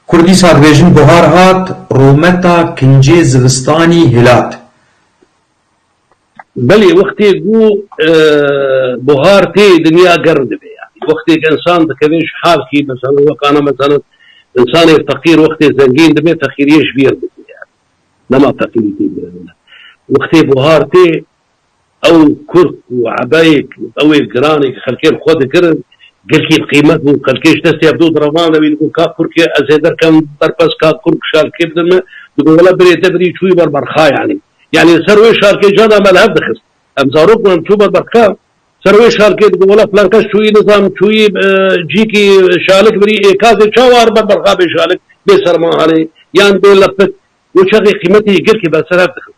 Kurdî sar dibêjin buhar hat, rometa kincê zivistanî hilat. Belê wextê ku buhar tê dinya germ dibe yanî wextê ku însan dikeve ji halkî meselan wekana meselan însanê feqîr wextê zengîn dibe feqîriyê ji bîr dike yanî dema feqîrî tê girevine wextê buhar tê Ew kurk û ebeyek ew ê giranêk xelkên xwe dikirin, girkî bi qîmet bû, xelkê ji destê hevdû direvane wî digot, Ka kurkê ez ê derkevim berpez, ka kurk şalkê bidin min, digot, Wele birê te birî çûyî ber berxa yanî. Yanî li ser wê şalkê cana me li hev dixist. Em zarok bûn, em çû ber berxa, ser wê şalkê digot, Wele filan kes çûyî nizanim, çûyî cîkî şalik birî, ê ka zê çawa li ber berxa bê şalik, bê sermanhanê, yan bê lepik, got, Çaxê qîmetê yê girkê be li ser hev dixist.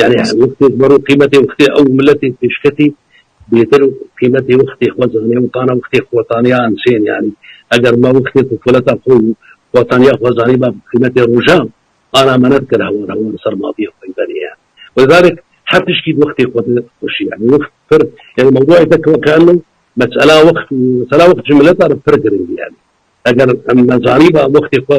Yanî wextê ziman û qîmetê wextê ew miletê pêşketî bêtir qîmetê wextê xwe zanî û tana wextê xwetaniya insên yanî eger me wextê tufuleta xwe û xwetaniya xwe zanîba bi qîmetê rojan ana me nedikir hewar hewar li ser maviyê xwe benê yanî wêzarek her tiştî bi wextê xwe dixweşî yanî wext pir yanî mewdûeyê te keenno mesela wext û mesela wext ji mileta re pir giring e yanî eger em me zanîba wextê xwe